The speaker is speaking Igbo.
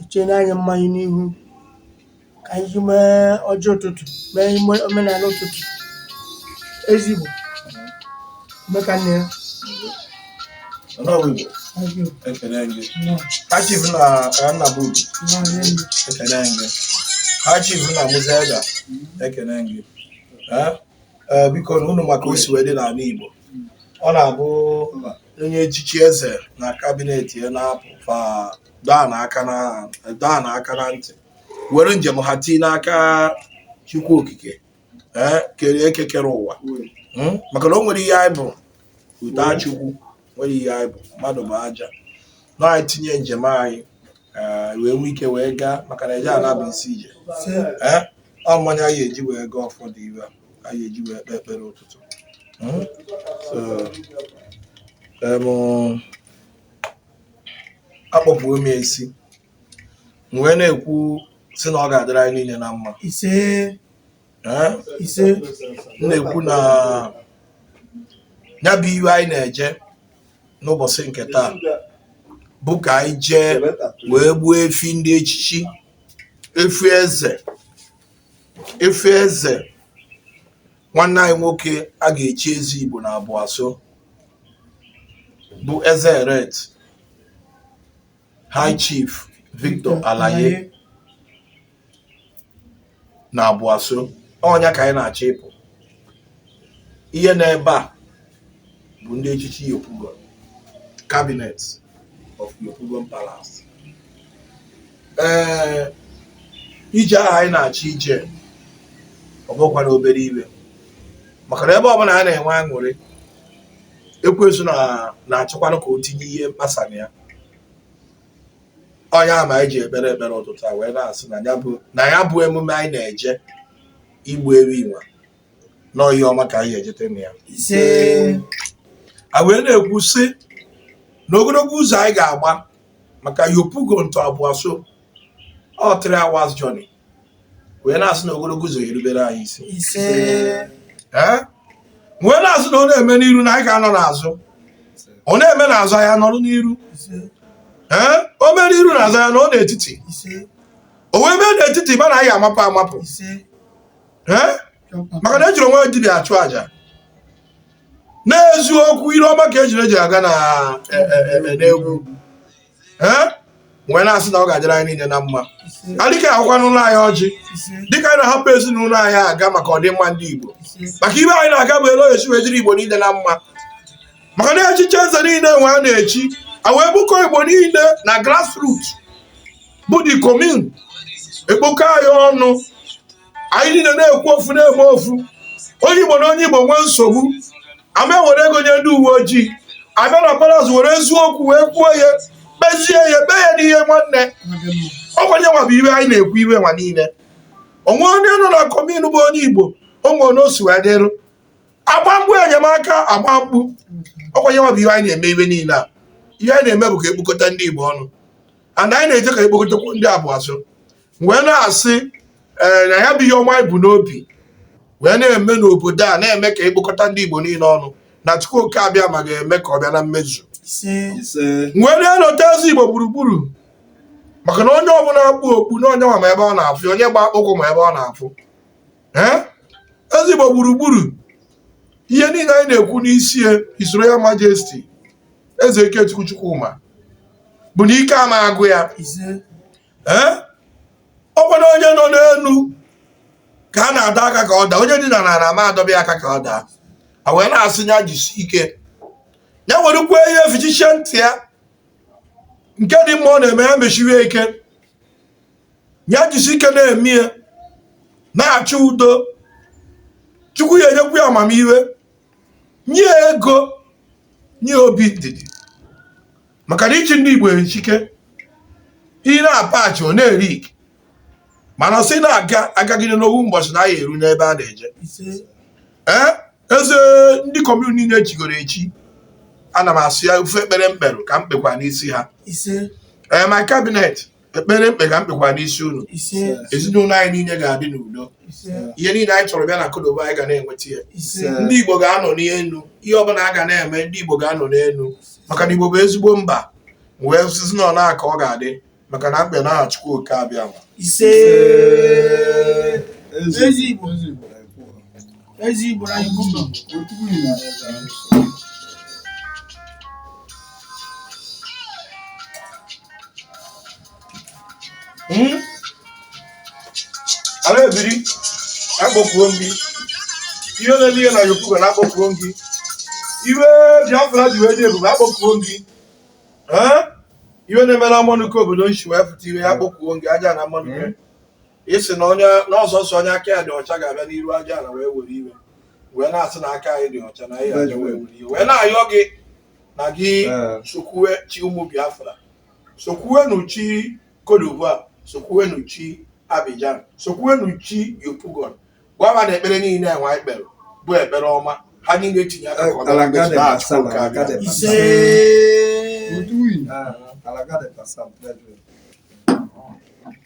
E cheena anyị mmanya n'ihu ka anyị ji mee ọjị ụtụtụ mee ime omenala ụtụtụ Eze Igbo meka nne ya Onowu Igbo, ọjị ekele gị. nọ High Chief na ka nna bụ Obi, n'ọrụ elu ekele gị. High Chief na Musa Eda, ekele gị. Eh, eh, Biko na unu maka o si wee dị n'ala Igbo. Ọ na-abụ onye echichi eze na kabinet ya na-apụ fa daa n'aka na daa n'aka na ntị were njem ha tii n'aka chukwu okike ee kere eke kere ụwa Mm? maka na o nwere ihe anyị bụ uta chukwu nwere ihe anyị bụ mmadụ bụ aja na anyị tinye njem anyị ee, wee nwee ike wee gaa maka na eje ala bụ isi ije ee ọ mmanya ya eji wee gaa ụfọdụ ihe anyị eji wee kpee ekpere ụtụtụ Hmm? So, em, akpọpụwo m ya isi m wee na-ekwu sị na ọ ga-adịrị anyị niile na mma ise Eh? ise m na-ekwu na ya bụ ihe anyị na-eje n'ụbọchị nke taa bụ ka anyị jee wee gbuo efi ndị echichi efi eze Efi eze nwanne anyị nwoke a ga-echi eze Igbo na Aboisso bụ eze elect High Chief Victor Alaye na Aboisso ọ nya ka anyị na-achọ ịpụ ihe n'ebe a bụ ndị echichi Yopougon cabinet of Yopougon Palace ee eh, ije ahụ anyị na-achọ ije ọ bụkwa na obere ihe maka na ebe ọbụla a na-enwe aṅụrị ekwensu na-achọkwanụ ka o tinye ihe mkpasa na ya ọ nya ma anyị ji ekpere ekpere ụtụtụ a wee na-asị na ya bụ emume anyị na-eje igbu efi nwa na ọ ihe ọma ka anyị ejete na ya ise a wee na-ekwu sị na ogologo ụzọ anyị ga-agba maka Yopougon to Aboisso ọ three hours journey wee na-asị na ogologo ụzọ erubere anyị isi ise ee wee na-asị na ọ na-eme n'iru na anyị ga-anọ n'azụ ọ na-eme n'azụ anyị anọrụ n'iru ise ee o mere iru na azụ anyị anọrụ n'etiti ise o wee mee n'etiti mana anyị amapụ amapụ ise maka na ejiri onwe dibịa achụ aja n'eziokwu ire ọma ka ejune ji aga na e, e, e, n'ogwu wee na-asị na ọ ga-adịrị anyị niile na mma adịka ahụkwa n'ụlọ anyị ọjị dịka anyị na-ahapụ ezinụlọ anyị aga maka ọdịmma ndị Igbo maka ibe anyị na-aga bụ etu ọ ya-esi wee dịrị Igbo niile na mma maka na echichi eze niile nwa a na-echi a wee bukọ Igbo niile na grassroots bụ the commune ekpokọ anyị ọnụ anyị niile na-ekwu ofu na-eme ofu onye igbo na onye igbo nwee nsogbu ama were ego nye ndị uwe ojii abịa na palas were eziokwu wee kwuo ya kpezie ya kpee ya n'ihe nwanne ọ kwa nya nwa bụ ihe anyị na-ekwu ihe nwa niile o nwee onye nọ na commune bụ onye igbo o nwee onye o si wee dịrụ agba mbọ enyemaka agba mbọ ọ kwa nya nwa bụ ihe anyị na-eme ihe niile a ihe anyị na-eme bụ ka ekpokọta ndị igbo ọnụ and anyị na-eje ka ekpokọtakwu ndị Aboisso wee na-asị ee na ya bụ ihe ọma anyị bu n'obi wee na-eme n'obodo a na-eme ka ekpokọta ndị Igbo niile ọnụ na Chukwu oke abịama ga-eme ka ọ bịa na mmezu wee na-elota eze Igbo gburugburu maka na onye ọbụla kpu okpu na onye nwa ma ebe ọ na-afụ onye gba akpụkwụ ma ebe ọ na-afụ ee eze Igbo gburugburu ihe niile anyị na-ekwu n'isi His Royal Majesty eze ikechukwu chukwuma bụ na ike ama agwụ ya ee ọ kwanụ onye nọ n'elu ka a na-adọ aka ka ọ daa onye dị n'ana ama adọba aka ka ọ daa a wee na-asị ya jisi ike ya werekwa ihe efichichie ntị ya nke dị mma ọ na-eme ya mesiwe ike ya jisi ike na-eme ya na-achọ udo chukwu ya enyekwu ya amamihe nye ya ego nye ya obi ndidi maka na ịchị ndị igbo esi ike ị na-apachi ọ na-eri ike mana sị na-aga agagide n'ofu mbọchị na ya eru n'ebe a na-eje ee eze ndị commune niile chigoro echi ana m asị ya ofu ekpere m kperụ ka m kpekwa n'isi ha ee my cabinet ekpere m kpe ka m kpekwa n'isi unu ezinụlọ anyị niile ga-adị n'udo ihe niile anyị chọrọ bịa na Côte d'Ivoire anyị ga na-enweta ya ndị Igbo ga-anọ n'elu ihe ọbụla a ga na-eme ndị Igbo ga-anọ n'elu maka na Igbo bụ ezigbo mba wee sịzi na otu a ka ọ ga-adị maka na m kpe n'aha Chukwu oke abịa Eze Igbo anyị bụ ụlọ. Hmm? Ala ebiri akpọkuo m gị ihe na-eme ihe na Yopougon akpọkuo m gị ihe Biafra ji wee dị ebube akpọkuo m gị ihe na-eme na mmanụ obodo nshi wee pụta ihe ya akpọkuo m gị aja na mmanụ ị sị na onye na ọ sọsọ onye aka ya dị ọcha ga-abịa n'iru aja ala wee were iwe wee na-asị na aka anyị dị ọcha na anyị aja wee were iwe wee na-ayọ gị na gị Ee. sokwuwe chi ụmụ Biafra sokwuwenu chi Cote d'Ivoire sokwuwenu chi Abidjan sokwuwenu chi Yopougon gwaba na ekpere niile enwe anyị kpere bụ ekpere ọma ha niile tinye aka ka ọ bịa na Alagade mmezu n'aha Chukwu Okike Asala, Abịama. Alagade Ise. Asala. Uduyi. Ah, Alagade Asala, brethren.